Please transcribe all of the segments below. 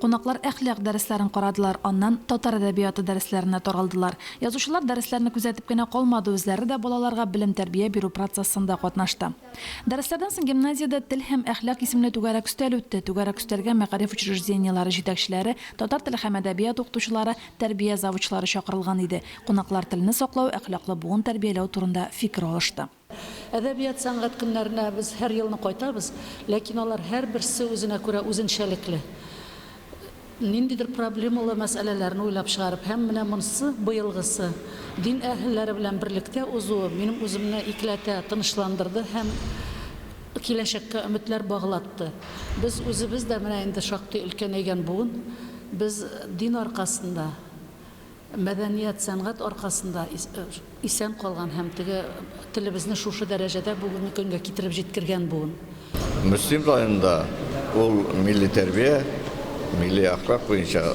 Кунаклар әхлак дәресләрен карадылар, аннан татар әдәбияты дәресләренә таралдылар. Язучылар дәресләрне күзәтеп кенә калмады, үзләре дә балаларга белем-тәрбия бирү процессында катнашты. Дәресләрдән соң гимназиядә Тел һәм әхлак исемле түгәрәк өстәл үтте. Түгәрәк өстәлгә мәгариф учреждениеләре җитәкчеләре, татар теле һәм әдәбият укытучылары, тәрбия завучлары чакырылган иде. Кунаклар телне саклау, әхлаклы буын тәрбияләү турында фикер алышты. Әдәбият, сәнгать көннәренә без һәр елны кайтабыз, ләкин алар һәрберсе үзенә күрә үзенчәлекле. Ниндидер проблемалы мәсьәләләрне уйлап чыгарып һәм менә монсы, быелгысы, дин әһелләре белән берлектә узуы минем үземне икеләтә тынычландырды һәм киләчәккә өметләр баглатты. Без үзебез дә менә инде шактый өлкәнәйгән буын, без дин аркасында, Мәдәният, сәнгать аркасында исән калган һәм теге телебезне шушы дәрәҗәдә бүгенге көнгә китереп җиткергән буын. Мөслим районында ул милли тәрбия, милли әхлак буенча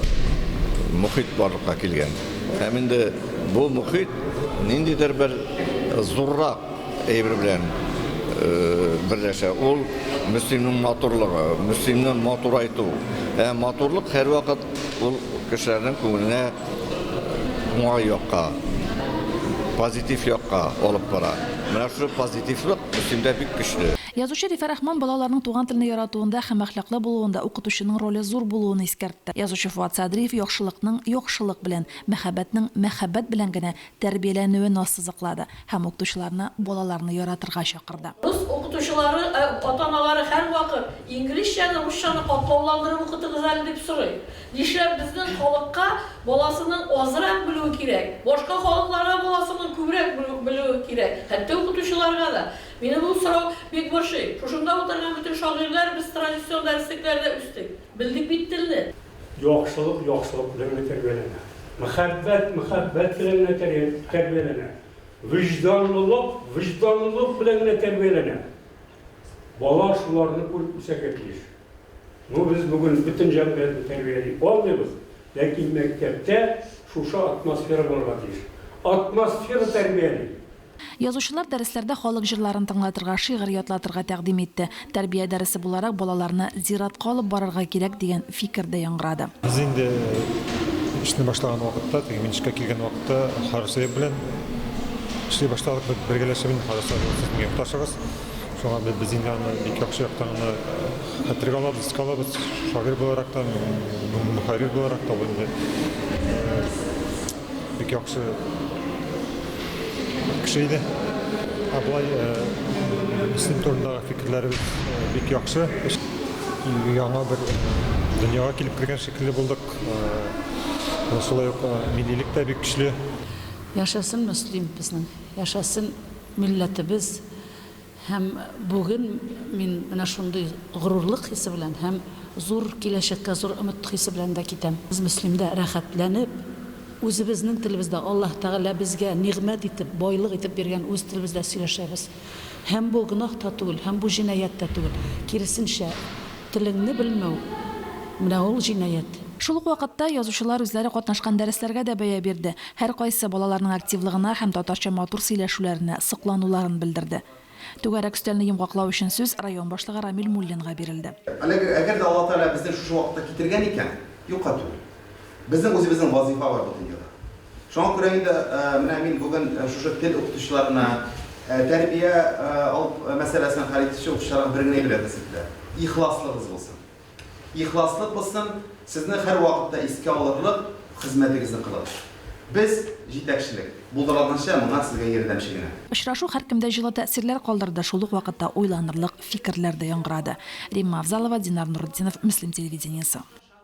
мохит барлыкка килгән. Һәм инде бу мохит ниндидер бер зуррак әйбер белән берләшә, ул Мөслимнең матурлыгы, Мөслимне матурайту. Ә матурлык һәрвакыт Ул кешеләрнең күңеленә уңай якка, позитив якка алып бара. Менә шушы позитивлык Мөслимдә бик көчле. Язучы Рифә Рахман балаларның туган телне яратуында һәм әхлаклы булуында укытучының роле зур булуын искәртте. Язучы Фуат Садриев яхшылыкның яхшылык белән, мәхәббәтнең мәхәббәт белән генә тәрбияләнүен ассызыклады һәм укытучыларны балаларны яратырга чакырды. Рус укытучылары, ә ата-аналары һәрвакыт, Инглизчәне, русчаны катлауландырып укытыгыз әле, дип сорый. Нишләп безнең халыкка баласының азрак белүе кирәк? Башка халыкларга баласының күбрәк белүе кирәк, хәтта укытучыларга да. Мине бу сорау бик борчый. Шушында утырган бөтен шагыйрьләр без традицион дәреслекләрдә үстек. Белдек бит телне! Яхшылык яхшылык белән генә тәрбияләнә. Мәхәббәт мәхәббәт белән генә тәрбияләнә. Вөҗданлылык вөҗданлылык белән генә тәрбияләнә. Бала шуларны күреп үсәргә тиеш. Ну, без бүген бөтен җәмгыятьне тәрбияли алмыйбыз, ләкин мәктәптә шушы атмосфера булырга тиеш. Атмосфера тәрбияли. Язучылар дәресләрдә халык җырларын тыңлатырга, шигырь ятлатырга тәкъдим итте. Тәрбия дәресе буларак балаларны зиратка алып барырга кирәк, дигән фикер дә яңгырады. Без инде эшне башлаган вакытта, теге мин эшкә килгән вакытта Харисәеп белән эшли башладык. Без бергәләшеп инде Харисәеп ул безнең якташыбыз. Шуңа без без инде аны бик яхшы яктан гына хәтергә алабыз, искә алабыз. Шагыйрь буларак та, мөхәррир буларак та ул инде бик яхшы кеше иде. Ә болай исем турындагы фикерләребез бик яхшы. Яңа бер дөньяга килеп кергән шикелле булдык. Шулай ук миллилек тә бик көчле. Яшәсен Мөслим безнең, яшәсен милләтебез! Һәм бүген мин менә шундый горурлык хисе белән һәм зур киләчәккә зур өмет хисе белән дә китәм. Без Мөслимдә рәхәтләнеп, үзебезнең телебездә, Аллаһ Тәгалә безгә нигъмәт итеп, байлык итеп биргән үз телебездә сөйләшәбез. Һәм бу гөнаһ та түгел, һәм бу җинаять тә түгел. Киресенчә, телеңне белмәү, менә ул җинаять. Шул ук вакытта язучылар үзләре катнашкан дәресләргә дә бәя бирде. Һәркайсы балаларның активлыгына һәм татарча матур сөйләшүләренә соклануларын белдерде. Түгәрәк өстәлне йомгаклау өчен сүз район башлыгы Рамил Муллинга бирелде. Әлеге, әгәр дә Алла Тәгалә безне шушы вакытта китергән икән, юкка түгел. Безнең үзебезнең вазыйфа бар бу дөньяда. Шуңа күрә инде менә мин бүген шушы тел укытучыларына, тәрбия алып мәсьәләсен хәл итүче укытучыларга бер генә әйбер әйтәсем килә, ихласлыгыз булсын. Ихласлык булсын, сезне һәрвакытта искә алырлык хезмәтегезне кылыгыз. Без, җитәкчелек, булдырлыгынча моңа сезгә ярдәмче генә. Очрашу һәркемдә җылы тәэсирләр калдырды, шул ук вакытта уйланырлык фикерләр дә яңгырады. Римма Авзалова, Динар Нуретдинов, Мөслим телевидениесе.